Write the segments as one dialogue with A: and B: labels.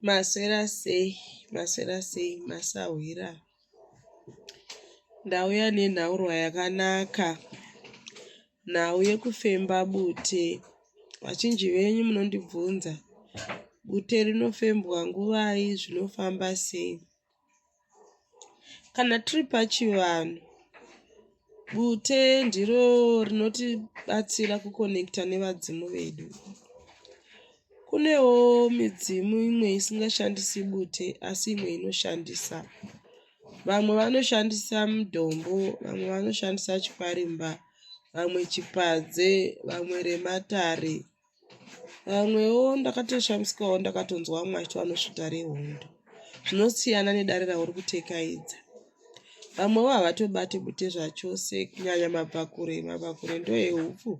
A: maswera sei maswera sei masahwira ndauya nenhaurwa yakanaka nhau yekufemba bute vachinji venyu munondibvunza bute rinofembwa nguvai zvinofamba sei Kana tiri pachivanhu, bute ndiro rinotibatsira kukonekita nevadzimu vedu. Kunewo midzimu imwe isingashandisi bute asi imwe inoshandisa. Vamwe vanoshandisa mudombo, vamwe vanoshandisa chikwarimba, vamwe chipadze, vamwe rematare. vamwewo ndakatoshamisikawo ndakatonzwa vamwe vachiti vanosvita rehondo zvinosiyana nedare rauri kutekaidza vamwewo havatobate bute zvachose kunyanya mabvakure mabvakure ndoehupfu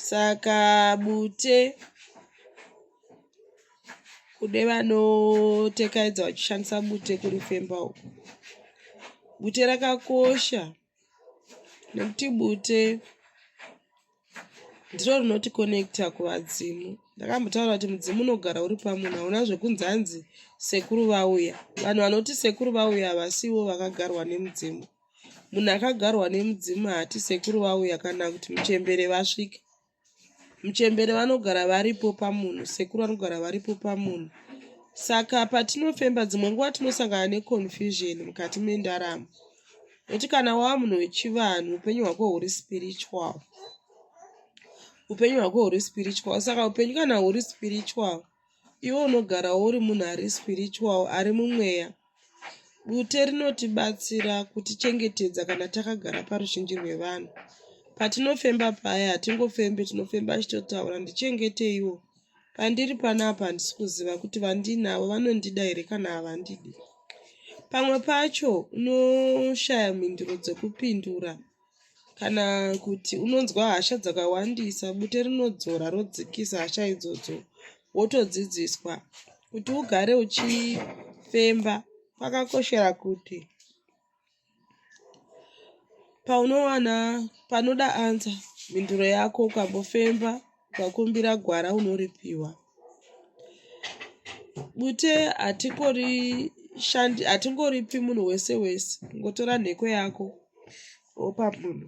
A: saka bute kude vanotekaidza vachishandisa bute kurifemba uku bute rakakosha nekuti bute ndiro rinoti connecta kuvadzimu ndakambotaura kuti mudzimu unogara uri pamunhu hauna zvekunzi hanzi sekuru vauya vanhu vanoti sekuru vauya havasiwo vakagarwa nemudzimu munhu akagarwa nemudzimu haati sekuru vauya kana kuti muchembere vasvika muchembere vanogara varipo pamunhu sekuru vanogara varipo pamunhu saka patinofemba dzimwe nguva tinosangana neconfusion mukati mendaramo Nekuti kana wava munhu wechivanhu upenyu hwako huri spiritual. Upenyu hwako huri spiritual. Saka upenyu kana huri spiritual, iwe unogara uri munhu ari spiritual, ari mumweya. Bute rinotibatsira kutichengetedza kana takagara paruzhinji rwevanhu. Patinofemba paya hatingofembe, tinofemba tichitotaura ndichengeteiwo. Pandiri panapa handisi kuziva kuti vandinavo vanondida here kana havandidi. Pamwe pacho unoshaya mhinduro dzekupindura kana kuti unonzwa hasha dzakawandisa, bute rinodzora rodzikisa hasha idzodzo, wotodzidziswa kuti ugare uchifemba kwakakoshera kuti paunowana panoda ansa mhinduro yako ukambofemba ukakumbira gwara unoripiwa bute hatikori shandi hatingoripi munhu wese wese ngotora nheko yako wopa munhu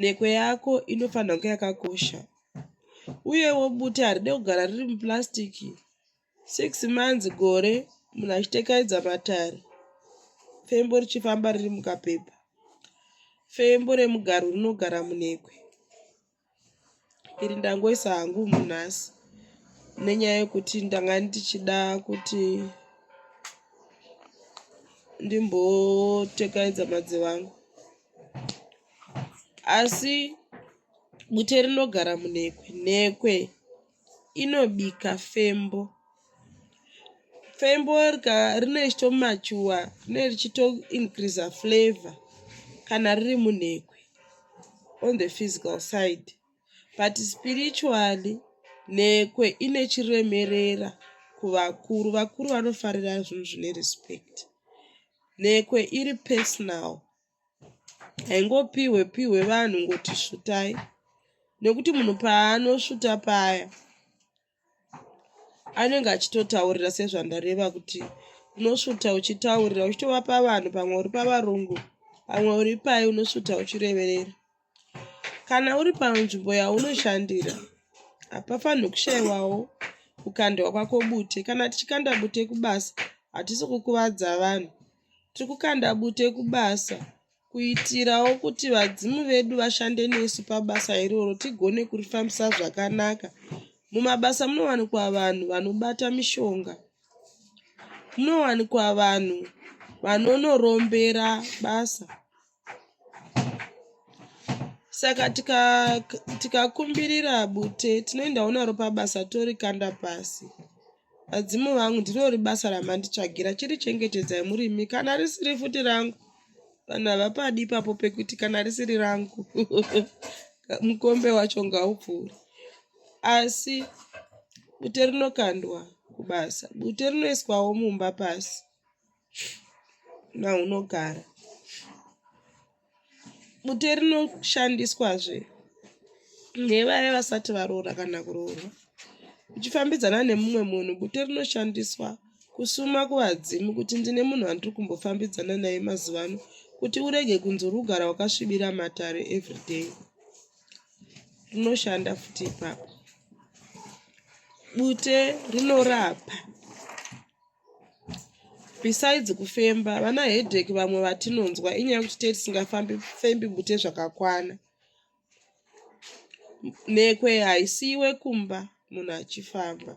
A: nheko yako inofanira kunge yakakosha uyewo bute haride kugara riri muplastic Six months gore munhu achitekaidza matare fembo richifamba riri mukapepa fembo remugaro rinogara munekwe iri ndangoisa hangu munhasi nenyaya yekuti ndanga ndichida kuti ndimbotekaidza madzi vangu asi bute rinogara munekwe nekwe inobika fembo. Fembo rinenge richito mature rinenge richito increaser flavour kana riri munhekwe on the physical side but spiritually nhekwe ine chiremerera kuvakuru. Vakuru vanofarira zvinhu zvine respect. Nhekwe iri personal. haingopihwe pihwe vanhu ngoti svutai nekuti munhu paanosvuta paya anenge achitotaurira sezvandareva kuti unosvuta uchitaurira uchitovapa vanhu pamwe uri pavarungu pamwe uri pai unosvuta uchireverera Kana uri panzvimbo yaunoshandira, hapafanirwi kushaiwawo kukandwa kwako bute. Kana tichikanda bute kubasa, hatisi kukuvadza vanhu. Tiri kukanda bute kubasa kuitirawo kuti vadzimu vedu vashande nesu pabasa iroro tigone kurifambisa zvakanaka. Mumabasa munowanikwa vanhu vanobata mishonga, munowanikwa vanhu vanonorombera basa saka tikakumbirira tika bute tinoendawo naro pabasa torikanda pasi vadzimu vangu ndinori basa ramanditsvagira chiri chengetedzai murimi kana risiri futi rangu vanhu havapadi ipapo pekuti kana risiri rangu mukombe wacho ngaupfuuri asi bute rinokandwa kubasa bute rinoiswawo mumba pasi maunogara bute rinoshandiswazve nevaya vasati varoora kana kuroorwa uchifambidzana nemumwe munhu bute rinoshandiswa kusuma kuvadzimu kuti ndine munhu wandiri kumbofambidzana naye mazuva ano kuti urege kunzi uri kugara wakasvibira matare everyday rinoshanda futi ipapo bute rinorapa besides kufemba vana headache vamwe vatinonzwa inyaya yekuti tee tisingafambi fembi bute zvakakwana nekwe haisiiwe kumba munhu achifamba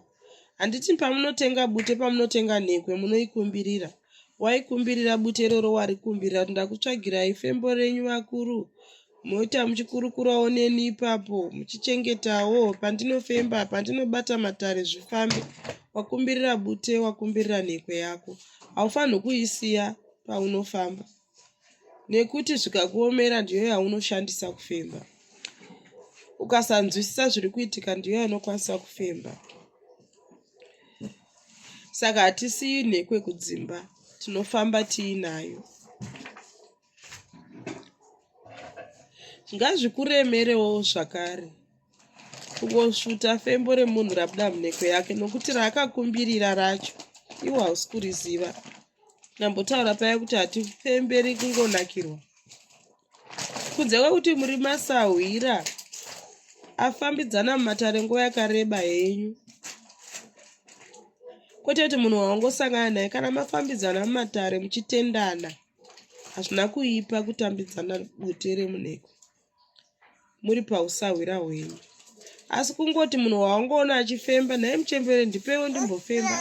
A: handiti pamunotenga bute pamunotenga nhekwe munoikumbirira waikumbirira bute iroro warikumbirira kuti ndakutsvagirai fembo renyu vakuru Moita muchikurukurawo neni ipapo muchichengetawo pandinofemba pandinobata matare zvifambe wakumbirira bute wakumbirira nhekwe yako haufanirwi kuisiya paunofamba nekuti zvikakuomera ndiyo yaunoshandisa kufemba ukasanzwisisa zviri kuitika ndiyo yanokwanisa kufemba saka hatisiyi nhekwe kudzimba tinofamba tiinayo ngazvikuremerewo zvakare kungosvuta fembo remunhu rabuda munheko yake nokuti raakakumbirira racho iwo hausi kuriziva nambotaura paya kuti hatifemberi kungonakirwa kunze kwekuti muri masahwira afambidzana mumatare nguva yakareba henyu kwete kuti munhu waongosangana naye kana mafambidzana mumatare muchitendana hazvina kuipa kutambidzana bute remuneko muri pausahwira hwenyu asi kungoti munhu wawangoona achifemba nhai muchembere ndipewo ndimbofemba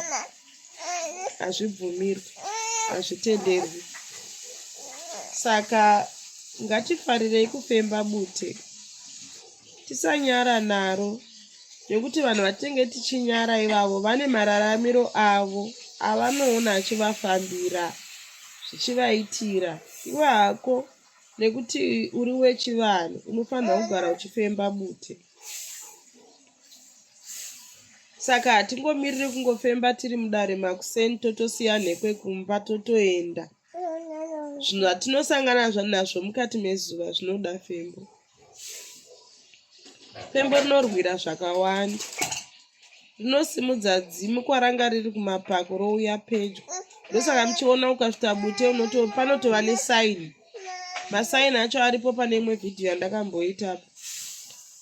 A: hazvibvumirwi hazvitenderwi saka ngatifarirei kufemba bute tisanyara naro nekuti vanhu vatenge tichinyara ivavo vane mararamiro avo avanoona achivafambira zvichivaitira iwe hako nekuti uri wechivanhu unofanira kugara uchifemba bute saka hatingomiriri kungofemba tiri mudare makuseni totosiya nhekwe kumba totoenda zvinhu zvatinosangana nazvo mukati mezuva zvinoda fembo Pembo rinorwira zvakawanda. Rinosimudza dzimu kwaranga riri kumapako rouya pedyo. Ndosaka muchiona ukasvita bute unoto panotova nesaini. Masaini acho aripo pane imwe vhidhiyo yandakamboita apo.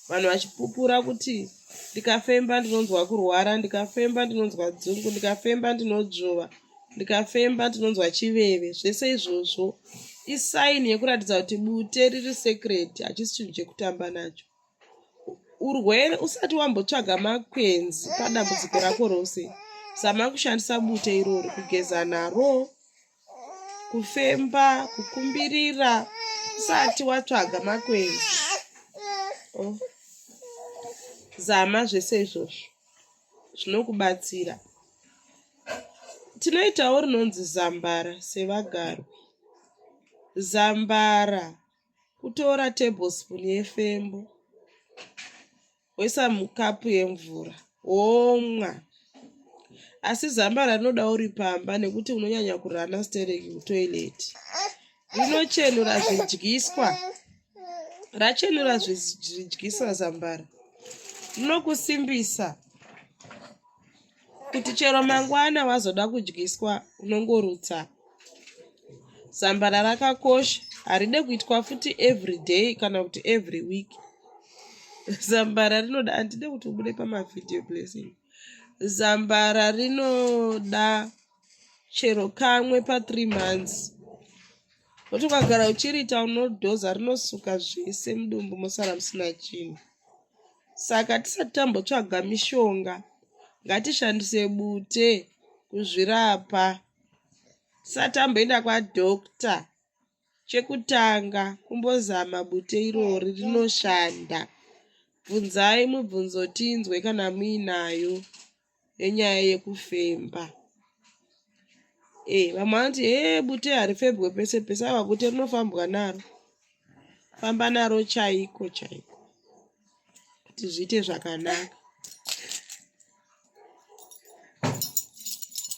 A: Vanhu vachipupura kuti ndikafemba ndinonzwa kurwara, ndikafemba ndinonzwa dzungu, ndikafemba ndinodzvova. ndikafemba ndinonzwa chiveve zvese izvozvo isaini yekuratidza kuti bute riri secret hachisi chinhu chekutamba nacho urwere usati wambotsvaga makwenzi padambudziko rako rose zama kushandisa bute irori kugeza naro kufemba kukumbirira usati watsvaga makwenzi oh. zama zvese izvozvo zvinokubatsira. Tinoitawo rinonzi zambara sevagarwi. Zambara kutora tablespoon yefembo woisa mukapu yemvura womwa. Asi zambara rinoda uri pamba nekuti unonyanya kurana stereki kutoilet. rinochenura zvidyiswa rachenura zvidyiswa zambara rinokusimbisa kuti chero mangwana wazoda kudyiswa unongorutsa zambara rakakosha haride kuitwa futi every day kana kuti every week zambara rinoda handide kuti ubude pamavhideo blessing zambara rinoda chero kamwe pa three months nokuti ukagara uchiriita unodhoza rinosuka zvese mudumbu mosara musina chinhu saka tisati tambotsvaga mishonga ngatishandise bute kuzvirapa tisati tamboenda kwadokta chekutanga kumbozama bute irori rinoshanda bvunzai mubvunzo tinzwe kana muinayo nenyaya yekufemba eh vamwe vanoti hee bute harifebwe pese pese ava bute rinofambwa naro famba naro chaiko chaiko kuti zviite zvakanaka